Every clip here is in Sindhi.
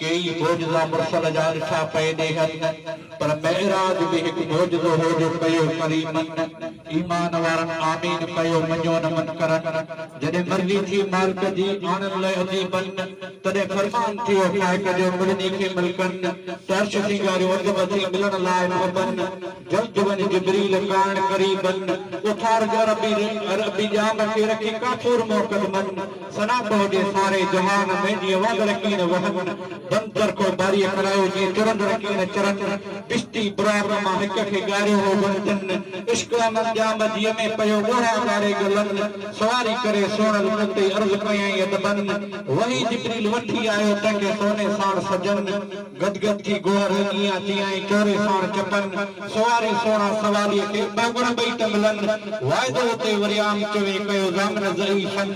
ڪيئي معجزا مرسل جا ڏٺا پئي ڏيهن پر معراج به هڪ معجزو هو جو ڪيو ڪريمن ايمان وارن آمين ڪيو مڃيو نه منڪرن جڏهن مرضي ٿي مالڪ جي آڻن لئه اديبن تڏهن فرمان ٿيو فائق جو ملني کي ملڪن ته عرش سينگاريو اڌ مٿي ملڻ لاء محبن جلد وڃ جبريل ڪائڻ قريبن اٿار جربي عربي ڄام کي رکي ڪافور مؤقدمن ثنا تو جي ساري جهان ۾، جيئن وهندڙ ڪين وهن، بند چرخو باريء ڪرايو، جيئن چرندڙ ڪين چرن، بشتي برارن مان هڪ کي ڳاريو هو بند تن، عشق امن ڄام جيء ۾ پيو ڳوڙها ڳاري ڳلن، سواري ڪري سهڻل تو تي عرض ڪيائين ادبن، وحي جبريل وٺي آيو تنهن کي سوني ساڻ سجن. گد گد ڪي گوهر رنگيان تيائين ڪوري ساڻ چپن سواري سوڻا سواريء کي ٻه مڙ ٻئي ٽنگلن واعدو اتي وري عام چوين ڪيو ضامن زئي شن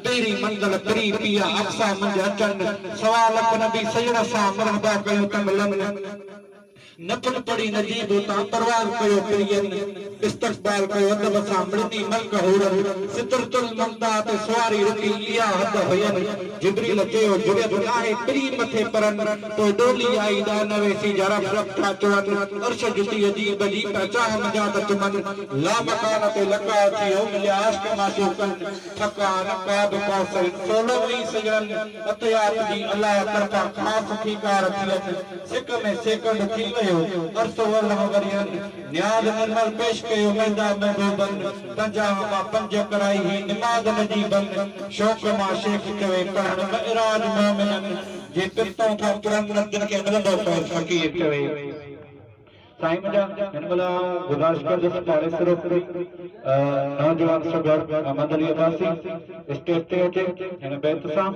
پهرين منزل پري پيا اقصيٰ منجهه اچن سوا لک نبي سڄڻ سان مرحبا ڪيون ٽنگلن نفل پڙهي نجيب اتان پرواز ڪيو پرين. استقبال ڪيو ادب سان مڙني ملڪ حورن سدرة المنتهيٰ تي سواري رکي اها حد هين جبريل چيو جرئت ناهي پرين مٿي پرن پوء ڏولي آئي ڏا نه ويسي جا رب رب ٿا چون عرش جتي عجيب عجيب پيا چاهه منجهان ته چمن لامڪان تي لقاء ٿيو مليا عاشق معشوقن ٿڪا نه قاب قوس هن سولو وئي سڄڻن عطيات جي الله طرفان خاص ٿي ڪار ٿين سڪ ۾ سيڪنڊ ٿي ويو عرصو الهه ورهين نياز نرمل پيش ڪيو ميدا مينڌو بن، پنجاهه مان پنج ڪرائي هي نماز مجي بن، شوق مان شيخ چوي پڙهڻ معراج مومنن، جي پرتون کان پڙهن نه تن کي ملندو فيض فقير چوي. سائين منهنجا هن مهل آئون گذارش ڪندس پاڙيسرو ڪوئي نوجوان سگهڙ احمد علي عباسي اسٽيج تي اچي هن بيت سان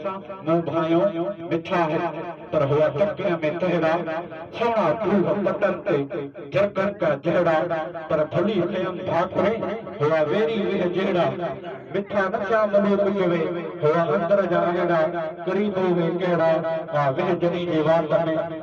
مون ڀانئيون مٺا هن پر هئا ٽڪرين ۾ تهڙا سهڻا ڦوهه پٽن تي جهڪن جا جهڙا، پر ڀلي ٿئيم ڀاڪري، هئا ويري ويهه جهڙا، مٺا نه ٿيا ملوڪ چوي، هئا اندر جا اهڙا، قريبو وي ڪهڙا، آ ويهه جني جي وات ۾.